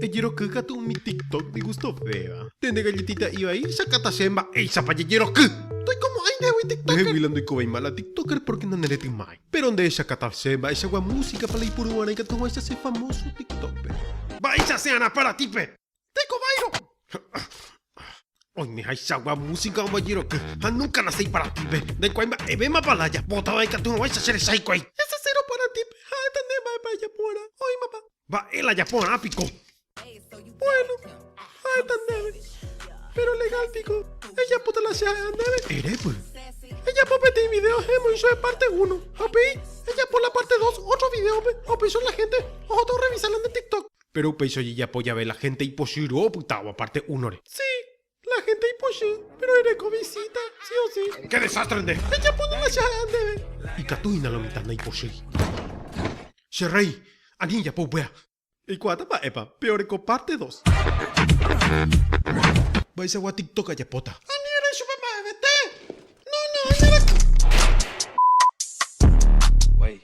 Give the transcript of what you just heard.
Ejeroky katu umi tiktok ndigustovéva. Nde ndegalletiita ivai, jakáta chéve mba'éichapa jejeroky. Ndoikomo'ãi ndehegui tiktoker. Ndeheguila ndoikovéima la tiktoker pórke naneretymái. Péro nde jakáta chéve mba'eichagua músikapa la ipuru g̃uarã ikatuguáicha che famóso tiktókpe. Mba'éicha che arã paratípe! Ndaikovái rõ. Oime haichagua música ombojeroky ha nunca nace iparatipe. Ndaikuaái mba'evémapa la ajapóta va ikaturoguáicha che resa hikuái. Hese cero paratipe ha'éta nde mba'épa ejapo'arã. Oĩmapa. Mba'e la japo'arã piko. Bueno, ha'éta ndéve. Pero legal piko ejapóta la che ha'éva ndéve? Erépy. Ejapo peteĩ video hemoĩchoe parte uno ha upéi ejapo la parte dos otro videópe ha upéicho la gente ohóta orrevisa la nde tiktok. Péro upéicha ojejapo jave la hénte ipochýrõ opytávo apárte únore. Si, la hénte ipochy, péro ereko visíta, si o si. Ke desástre nde! Pejapo ningo che ha'e ndéve. Ikatu hína la mitã ndaipochýi. Che rréi, ani ejapo upéva. Eikuaáta mba'épa, pe oreko párte dos. Mba'eichagua tiktok ajapóta. Ani erei chupe mba'evete. No, no, añarakatu.